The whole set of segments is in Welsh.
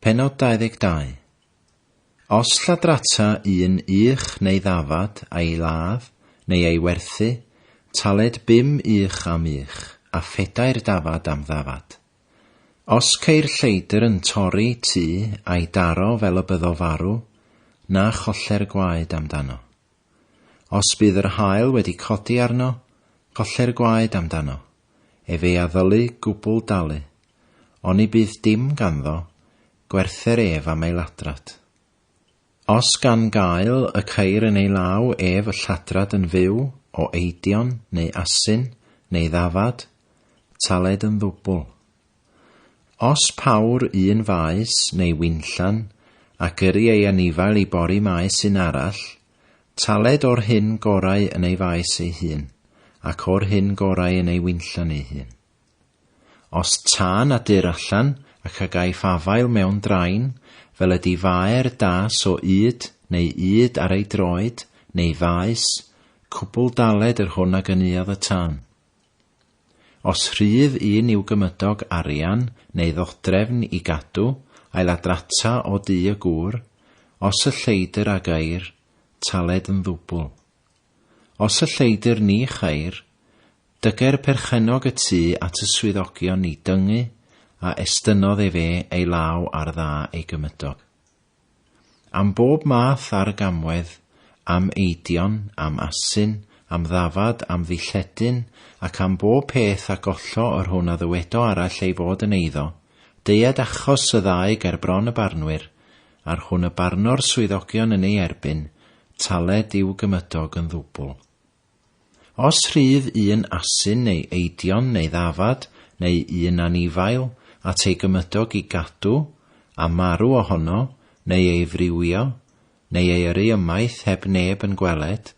Pennod 22. Os lladrata un ych neu ddafad a'i ladd neu ei werthu, taled bum ych am ych, a phedair dafad am ddafad. Os ceir lleidr yn torri tŷ a'i daro fel y byddo farw, na cholle'r gwaed amdano. Os bydd yr haul wedi codi arno, colle'r gwaed amdano. ef ei addylu gwbl dalu, oni bydd dim ganddo, gwerther ef am ei ladrad. Os gan gael y ceir yn ei law ef y lladrad yn fyw o eidion neu asyn neu ddafad, taled yn ddwbl. Os pawr un faes neu winllan, ac yri ei anifail i bori maes un arall, Taled o'r hyn gorau yn ei faes ei hun, ac o'r hyn gorau yn ei winllan ei hun. Os ta na dur allan, ac a gaiff afael mewn drain, fel ydy faer da so ŷd, neu ŷd ar ei droed, neu faes, cwbl daled yr hwn a gynuodd y tân. Os rhydd un i'w gymydog arian neu ddodrefn i gadw, ailadrata o dŷ y gŵr, os y lleidr a gair, taled yn ddwbl. Os y lleidr ni chair, dyger perchennog y tŷ at y swyddogion ni dyngu a estynnodd efe ei law ar dda ei gymydog. Am bob math ar y gamwedd, am eidion, am asyn, am ddafad, am ddilledyn, ac am bob peth a gollo yr hwn a ddywedo arall ei fod yn eiddo, deued achos y ddau ger bron y barnwyr, a'r hwn y barno'r swyddogion yn ei erbyn, taled i'w gymydog yn ddwbl. Os rhydd un asyn neu eidion neu ddafad neu un anifail at ei gymydog i gadw a marw ohono, neu ei friwio, neu ei yrru ymaith heb neb yn gweled,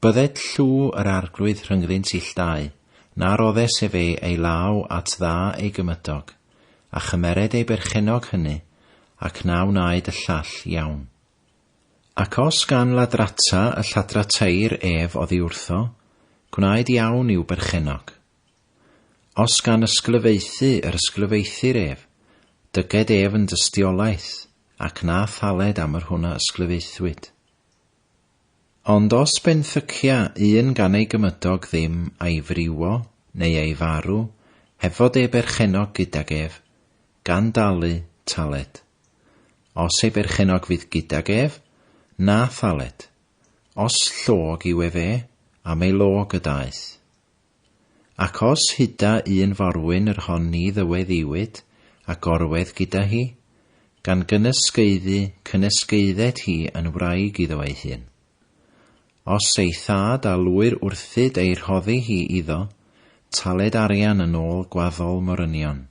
bydded llw yr Arglwydd rhyngddynt illtau, na roddes ef ei ei law at dda ei gymydog, a chymered ei berchennog hyny, ac na wnaed y llall iawn. Ac os gan ladrata y lladra teir ef oddi wrtho, gwnaed iawn i'w berchennog. Os gan ysglyfaethu yr ysglyfaethir ef, dyged ef yn dystiolaeth, ac na thaled am yr hwn a ysglyfaethwyd. Ond os benthycia un gan ei gymydog ddim a'i friwo, neu ei farw, heb fod ei berchennog gydag ef, gan dalu, taled. Os ei berchennog fydd gydag ef, na thaled, os llog yw ef e, am ei log y daeth. Ac os huda un forwyn yr hon ni ddyweddiwyd a gorwedd gyda hi, gan gynysgeiddu cynesgeiddet hi yn wraig iddo ei hun. Os ei thad a lwyr wrthyd ei rhoddi hi iddo, taled arian yn ôl gwaddol morynion.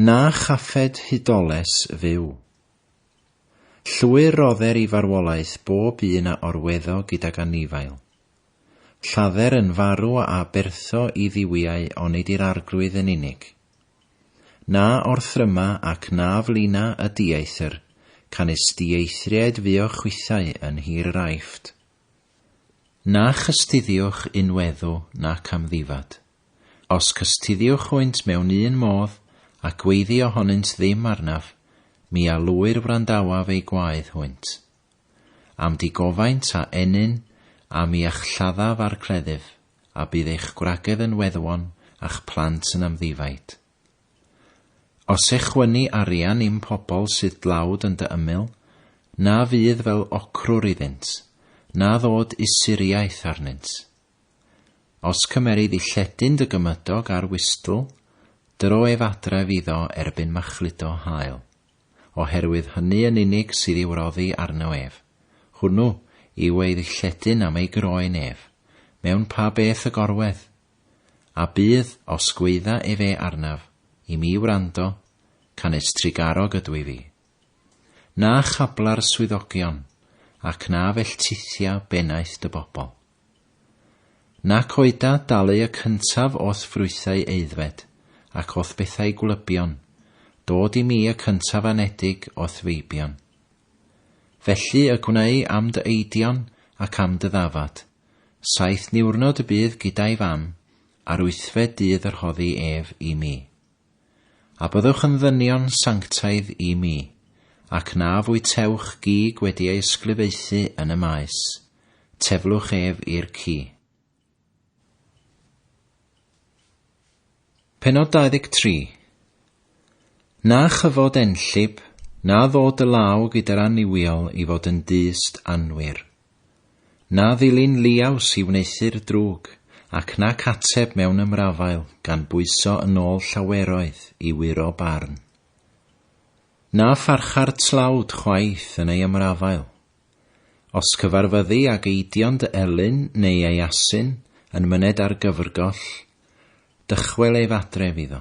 Na chaffed hudoles fyw. Llwyr rodder i farwolaeth bob un a orweddo gydag anifail. Lladder yn farw a abertho i dduwiau onid i'r Arglwydd yn unig. Na orthryma ac na flina y dieithr, canys dieithriaid fuo chwithau yn nhir yr Aifft. Na chystuddiwch unweddw nac amddifad. Os cystuddiwch hwynt mewn un modd, a gweiddi ohonynt ddim arnaf, mi a lwyr wrandawaf eu gwaedd hwynt. Am digofaint a ennyn, a mi a'ch lladdaf a'r cleddyf, a bydd eich gwragedd yn weddwon, a'ch plant yn amddifaid. Os echwynni arian i'm pobl sydd dlawd yn dy ymyl, na fydd fel ocrwr iddynt, na ddod usuriaeth arnynt. Os cymerid i lledyn dy gymydog ar wistl, dro ef adref iddo erbyn machludo hael. Oherwydd hynny yn unig sydd i'w roddi arno ef. Hwnnw yw ei ddilledyn am ei groen ef, mewn pa beth y gorwedd. A bydd, os gweidda efe arnaf, i mi wrando, canys trugarog ydw i fi. Na chabla'r swyddogion, ac na felltithia bennaeth dy bobl. Nac oeda dalu y cyntaf o'th ffrwythau aeddfed, ac o'th bethau gwlybion, dod i mi y cyntaf anedig o'th feibion. Felly y gwneu am dy eidion ac am dy ddafad, saith niwrnod y bydd gyda'i fam, a'r wythfed dydd y rhoddi ef i mi. A byddwch yn ddynion sanctaidd i mi, ac na fwytewch gig wedi ei ysglyfaethu yn y maes, teflwch ef i'r ci. Penod 23 Na chyfod enllib, na ddod y law gyda'r annuwiol i fod yn dyst anwir. Na ddilyn liaws i wneuthur drwg, ac nac ateb mewn ymrafael gan bwyso yn ôl llaweroedd i wyro barn. Na pharcha'r tlawd chwaith yn ei ymrafael. Os cyfarfyddi ag eidion dy elyn neu ei asyn yn myned ar gyfrgoll, dychwel ef adref iddo.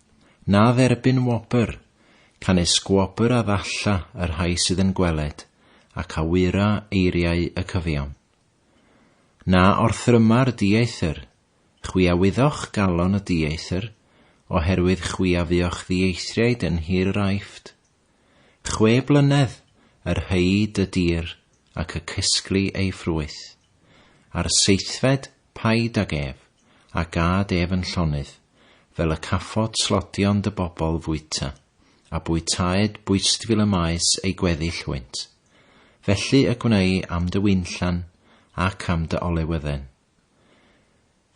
Na dderbyn wobr, canys gwobr a ddalla y rhai sydd yn gweled, ac a wyra eiriau y cyfiawn. Na orthryma'r dieithr, chwi a wyddoch galon y dieithr, oherwydd chwi a fuoch ddieithriaid yn nhir yr Aifft. Chwe blynedd yr hyd y dir ac y cysgli ei ffrwyth, a'r seithfed paid ag ef, a gâd ef yn llonydd, fel y caffod slodion dy bobl fwyta, a bwytaed bwystfil y maes ei gweddill hwynt. Felly y gwnei am dy winllan ac am dy olewydden.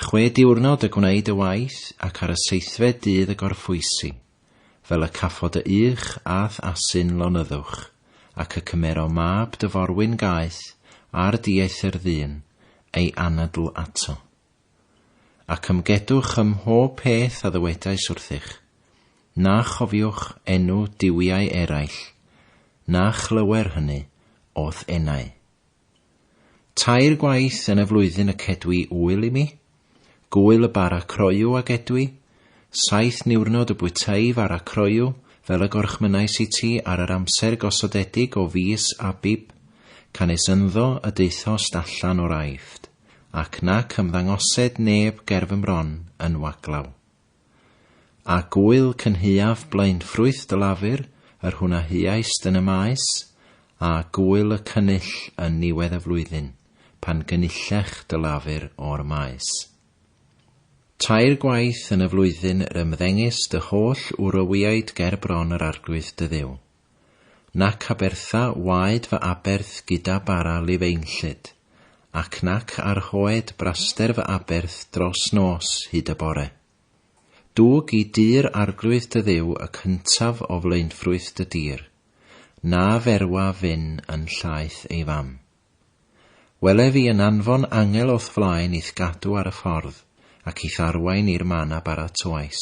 Chwe diwrnod y gwneud y waith ac ar y seithfed dydd y gorffwysi, fel y caffod y ych a'th asyn lonyddwch, ac y cymero mab dy forwyn gaeth ar dieithr ddyn, ei anadl ato. Ac ymgedwch ym mhob peth a ddywedais wrthych, na chofiwch enw duwiau eraill, na chlywer hynny o'th enau. Tair gwaith yn y flwyddyn y cedwi ŵyl i mi, gŵyl y bara croyw a gedwi, saith niwrnod y bwytâi fara croyw fel y gorchmynnais i ti ar yr amser gosodedig o fis Abib, canys ynddo y daethost allan o'r Aifft, ac nac ymddangosed neb ger fy mron yn waglaw. A gŵyl cynhaeaf blaen ffrwyth dy lafur, yr hwn a huaist yn y maes, a gŵyl y cynnull yn niwedd y flwyddyn, pan gynullech dy lafur o'r maes. Tair gwaith yn y flwyddyn yr ymddengys dy holl wrywïaid ger bron yr arglwydd dy Dduw. Nac abertha waed fy aberth gyda bara lifeinllyd, ac nac arhoed braster fy aberth dros nos hyd y bore. Dwg i dir arglwydd dy Dduw y cyntaf o flaenffrwyth dy dir, na ferwa fyn yn llaeth ei fam. Welef i yn anfon angel o'th flaen i'th gadw ar y ffordd, ac i'th arwain i'r man a baratoais.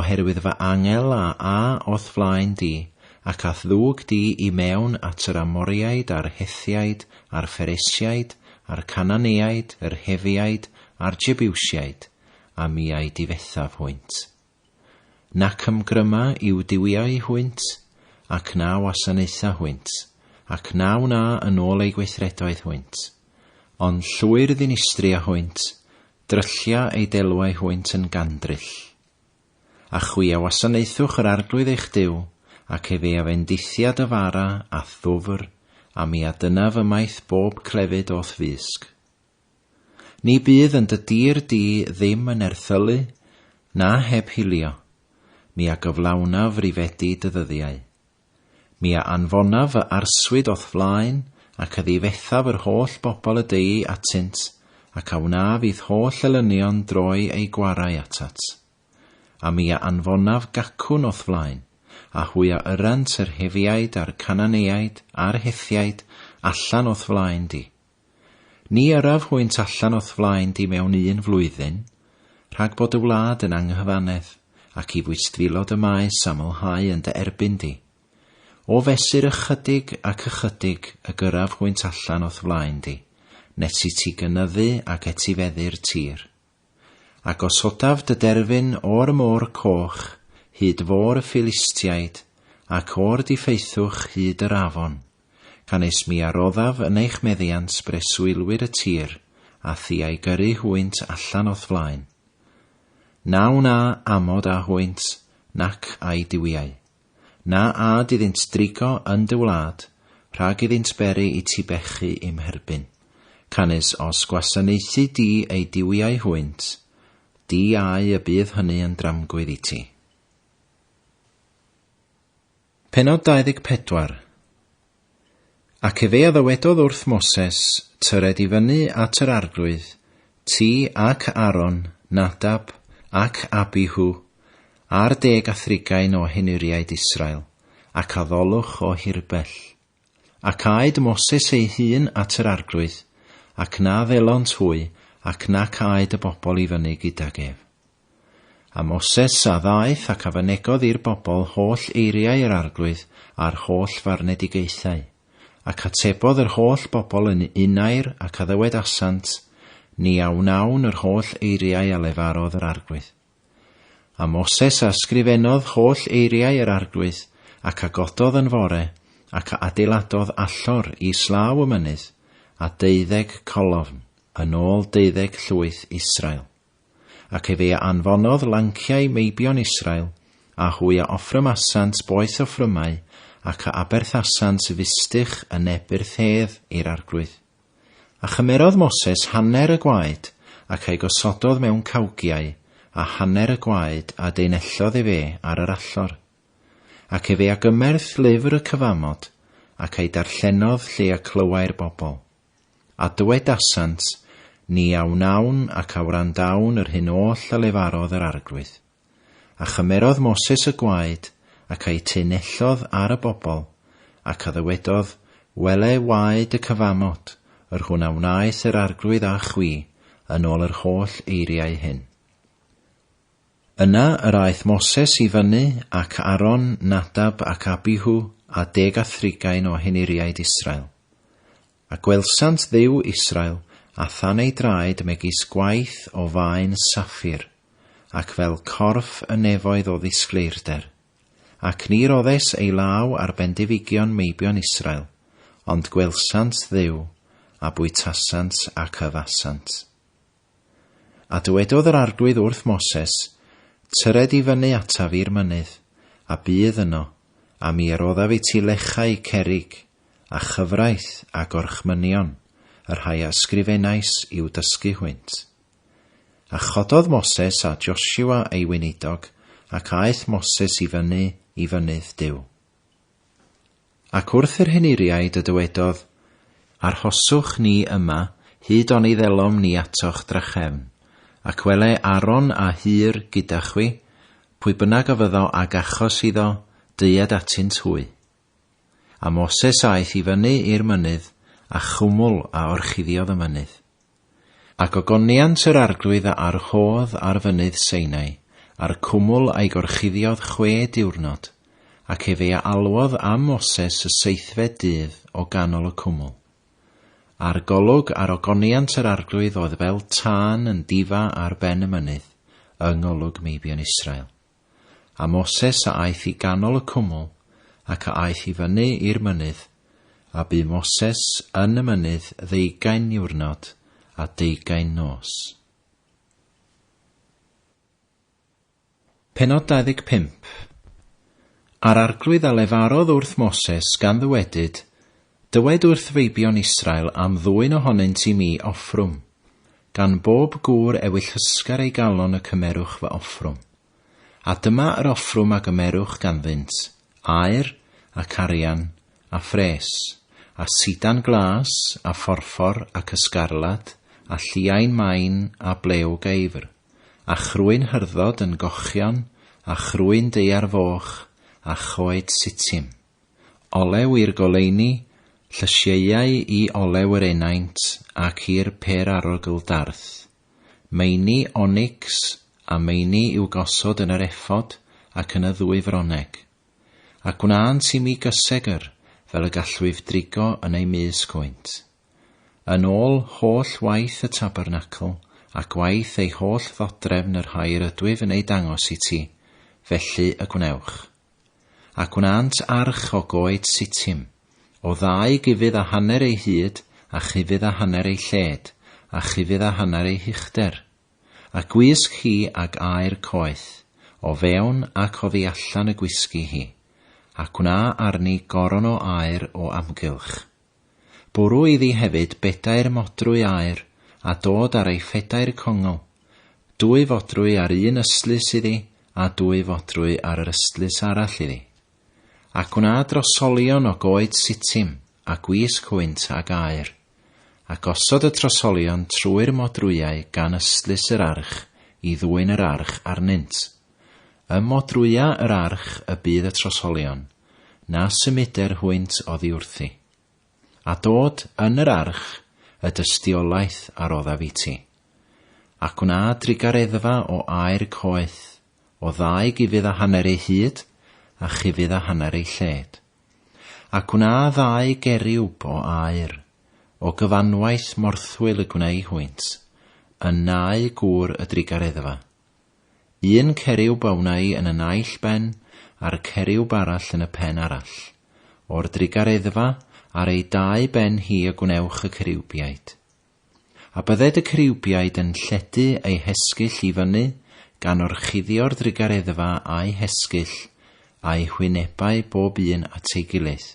oherwydd fy angel a a o'th flaen di, ac a'th ddug di i mewn at yr Amoriaid a'r Hethiaid a'r Pheresiaid a'r Cananeaid, yr Hefiaid a'r Jebiwsiaid, a mi a'i difethaf hwynt. Nac ymgryma i'w duwiau hwynt, ac na wasanaetha hwynt, ac na wna yn ôl eu gweithredoedd hwynt, ond llwyr ddinistria hwynt, Dryllia ei delwau hwynt yn gandryll. A chwi a wasanaethwch yr Arglwydd eich Duw, ac efe a fendithia dy fara a'th ddwfr, a mi a dyna fy maith bob clefyd o'th fysg. Ni bydd yn dy dir di ddim yn erthylu, na heb hilio, mi a gyflawnaf rifedi dy ddyddiau. Mi a anfonaf fy arswyd o'th flaen, ac a ddifethaf yr holl bobl y deuy atynt, ac a wnaf i'th holl elynion droi eu gwarau atat. A mi a anfonaf gacwn o'th flaen, a hwy a yrrant yr Hefiaid a'r Cananeaid a'r Hethiaid allan o'th flaen di, Ni yrraf hwynt allan o'th flaen di mewn un flwyddyn, rhag bod dy wlad yn anghyfanedd, ac i fwystfilod y maes amlhau yn dy erbyn di. O fesur ychydig ac ychydig y gyrraf hwynt allan o'th flaen di, nes i ti gynyddu ac etifeddu'r tir. A gosodaf dy derfyn o'r Môr Coch hyd fôr y Philistiaid, ac o'r diffaethwch hyd yr afon, gan es mi a roddaf yn eich meddiant breswylwyr y tir a thi a'i gyrru hwynt allan o'th flaen. Na wna amod â hwynt, nac â'i duwiau. Na âd iddynt drigo yn dy wlad, rhag iddynt beri i ti bechu i'm herbyn. Canys os gwasanaethu di eu duwiau hwynt, di au y bydd hynny yn dramgwydd i ti. Pennod 24. Ac efe a ddywedodd wrth Moses, Tyred i fyny at yr arglwydd, ti ac Aaron, Nadab ac Abihu, a'r deg a thrigain o henuriaid Israel, ac addolwch o hirbell. Ac aed Moses ei hun at yr arglwydd, ac na ddelont hwy ac nac aed y bobl i fyny gydag ef. A Moses a ddaeth ac a fynegodd i'r bobl holl eiriau yr Arglwydd a'r holl farnedigaethau. Ac atebodd yr holl bobl yn unair ac a ddywedasant, Ni a wnawn yr holl eiriau a lefarodd yr Arglwydd. A Moses a ysgrifennodd holl eiriau yr Arglwydd, ac a gododd yn fore, ac a adeiladodd allor i slaw y mynydd, a deuddeg colofn, yn ôl deuddeg llwyth Israel. Ac efe a anfonodd lanciau meibion Israel, a hwy a offrymasant boeth offrymau, ac a aberthasant fustych yn neb yr thedd i'r arglwydd. A chymerodd Moses hanner y gwaed, ac a'i gosododd mewn cawgiau, a hanner y gwaed a deinellodd efe ar yr allor. Ac efe a gymerth lyfr y cyfamod, ac a'i darllenodd lle a clywai'r bobl. A dywedasant, Ni a wnawn ac a wrandawn yr hyn oll a lefarodd yr Arglwydd. A chymerodd Moses y gwaed, ac a'i tyn nellodd ar y bobl, ac a ddywedodd, Wele waed y cyfamod, yr hwn a wnaeth yr Arglwydd â chwi, yn ol yr holl eiriau hyn. Yna yr aeth Moses i fyny, ac Aaron, Nadab, ac Abihu, a deg a thrigain o henuriaid Israel. A gwelsant Dduw Israel, a thân ei draed megis gwaith o faen saffir, ac fel corff y nefoedd o ddisgleirder. Ac ni roddes ei law ar bendifigion meibion Israel, ond gwelsant Dduw, a bwytasant ac yfasant. A dywedodd yr Arglwydd wrth Moses, Tyred i fyny ataf i'r mynydd, a bydd yno, a mi roddaf i ti lechau cerrig, a chyfraith, a gorchmynion, y rhai a ysgrifenais i'w dysgu hwynt. A chododd Moses a Joshua ei weinidog, ac aeth Moses i fyny i fynydd Duw. Ac wrth yr henuriaid y dywedodd, Arhoswch ni yma hyd oni ddelom ni atoch drachefn, ac wele Aaron a Hur gyda chwi, pwy bynnag a fyddo ag achos iddo, deued atynt hwy. A Moses aeth i fyny i'r mynydd, a chwmwl a orchuddiodd y mynydd. Ac ogoniant yr Arglwydd a arhodd ar fynydd Seinai, a'r cwmwl a'i gorchuddiodd chwe diwrnod, ac ef ei alwodd am Moses y seithfed dydd o ganol y cwmwl. A'r golwg ar ogoniant yr Arglwydd oedd fel tân yn difa ar ben y mynydd, yng ngolwg meibion Israel. A Moses a aeth i ganol y cwmwl, ac a aeth i fyny i'r mynydd, a bu Moses yn y mynydd ddeugain niwrnod a deugain nos. Pennod 25 A'r arglwydd a lefarodd wrth Moses gan ddywedyd, Dywed wrth feibion Israel am ddwyn ohonynt i mi offrwm. Gan bob gŵr ewyllysgar ei galon y cymerwch fy offrwm. A dyma yr offrwm a gymerwch ganddynt, aur, ac arian, a phres, a sidan glas, a phorffor, ac ysgarlad, a lliain main, a blew geifr, a chrwyn hyrdod yn gochion, a chrwyn daear foch, a choed Sittim. Olew i'r goleuni, llysieuau i olew yr enaint ac i'r pêr-arogl darth. Meini onics a meini i'w gosod yn yr efod ac yn y ddwy froneg. A gwnânt i mi gysegr fel y gallwyf drigo yn eu mys gwynt. Yn ôl holl waith y tabernacl, ac waith ei holl ddodrefn yr hair ydwyf yn eu dangos i ti, felly y gwnewch. Ac wnânt arch o goed Sittim, o ddau gufudd a hanner ei hyd, a chufudd a hanner ei lled, a chufudd a hanner ei huchder. A gwisg hi ag aer coeth, o fewn ac oddi allan y gwisgi hi, ac wna arni goron o aer o amgylch. Bwrw iddi hefyd bedair modrwy aer, a dod ar ei phedair congl, dwy fodrwy ar un ystlys iddi, a dwy fodrwy ar yr ystlys arall iddi. Ac gwna drosolion o goed Sitim, a gwisg hwynt ag aer. A gosod y trosolion trwy'r modrwyau gan ystlys yr arch i ddwyn yr arch arnynt. Ym modrwyau yr arch y bydd y trosolion. na symuder hwynt oddi wrthi, a dod yn yr arch y dystiolaeth a roddaf i ti, a gwna drugareddfa o aer coeth, o ddau gufudd a hanner ei hyd, a chufudd a hanner ei lled, a gwna ddau geriwb o aer, o gyfanwaith morthwyl y gwneu hwynt, yn nau gŵr y drugareddfa, Un ceryw bawnai yn y naill ben a'r ceryw barall yn y pen arall. O'r drugareddfa ar ei dau ben hi y gwnewch y ceriwbiaid. A bydded y ceriwbiaid yn lledu eu hesgyll i fyny gan orchuddio'r drugareddfa a'u hesgyll, a'u hwynebau bob un at ei gilydd,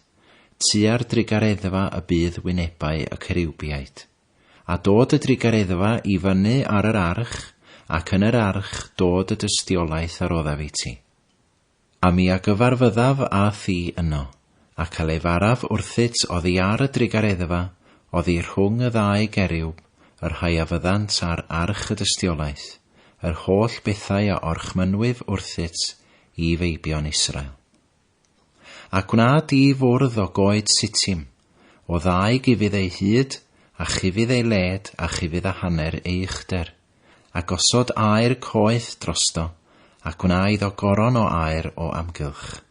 tua'r drugareddfa y bydd wynebau y ceriwbiaid. A dod y drugareddfa i fyny ar yr arch, ac yn yr arch dod y dystiolaeth a roddaf i ti. A mi a gyfarfyddaf â thi yno, ac a lefaraf wrthyt oddi ar y drugareddfa, oddi rhwng y ddau geriwb, y rhai a fyddant ar arch y dystiolaeth, yr holl bethau a orchmynnwyf wrthyt, i feibion Israel. A gwna di fwrdd o goed sitim, o ddau gufydd ei hyd, a chufydd ei led, a chufydd a hanner ei uchder, a gosod aer coeth drosto, a gwna iddo goron o aer o amgylch.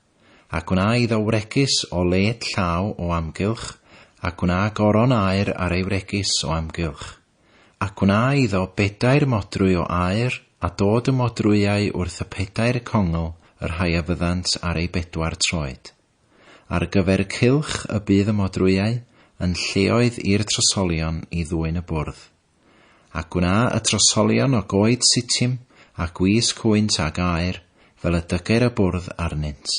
A gwna iddo wregys o led llaw o amgylch, a gwna goron aer ar ei wregys o amgylch. a gwna iddo bedair modrwy o aer, a dod y modrwyau wrth y pedair congl, y rhai a fyddant ar eu bedwar troed. Ar gyfer y cylch y bydd y modrwyau, yn lleoedd i'r trosolion i ddwyn y bwrdd. A gwna y trosolion o goed sitim, a gwisg hwynt ag aer, fel y dyger y bwrdd arnynt.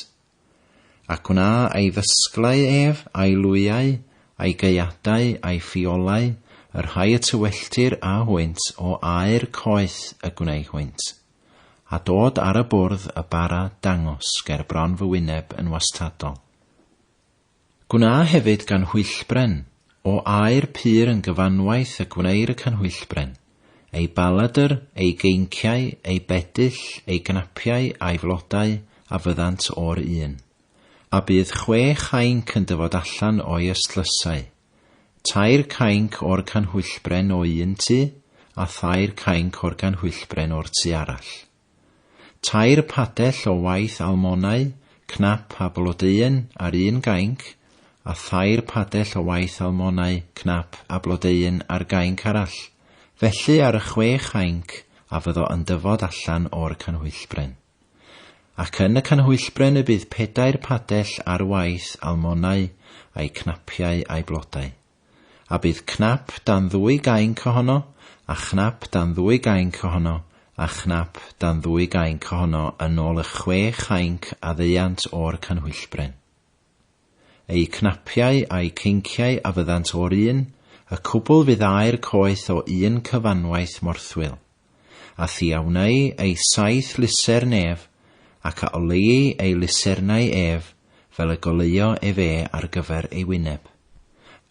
Ac wna ei ddysglau ef, a'i lwyau, a'i gaeadau, a'i ffiolau, y rhai y tywelltir â hwynt o aer coeth y gwneu hwynt, a dod ar y bwrdd y bara dangos ger bron fy wyneb yn wastadol. Gwna hefyd ganhwyllbren o aer pur yn gyfanwaith y gwneir y canhwyllbren, ei baladr, ei geinciau, ei bedyll, ei gnapiau a'i flodau, a fyddant o'r un. A bydd chwe chainc yn dyfod allan o'i ystlysau, tair cainc o'r canhwyllbren o un tu, a thair cainc o'r ganhwyllbren o'r tu arall. Tair padell o waith almonau, cnap a blodeuyn ar un gainc, a thair padell o waith almonau, cnap a blodeuyn ar gainc arall. Felly ar y chwe chainc a fyddo yn dyfod allan o'r canhwyllbren. Ac yn y canhwyllbren y bydd pedair padell ar waith almonau, a'i cnapiau a'i blodau. A bydd cnap dan ddwy gainc ohono, a chnap dan ddwy gainc ohono, a chnap dan ddwy gainc ohono yn ôl y chwe chainc a ddeuant o'r canhwyllbren. Eu cnapiau a'u ceinciau a fyddant o'r un, y cwbl fydd aer coeth o un cyfanwaith morthwyl. A thiawnai ei saith lusern ef, ac a oleuai ei lusernau ef fel y goleuo ef e ar gyfer ei wyneb.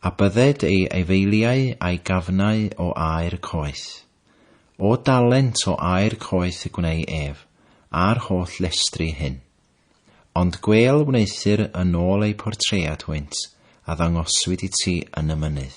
A bydded ei aefeiliau a'i gafnau o aer coeth. O dalent o aer coeth y gwnei ef, a'r holl llestri hyn. Ond gwêl wneuthur yn ôl eu portread hwynt a ddangoswyd i ti yn y mynydd.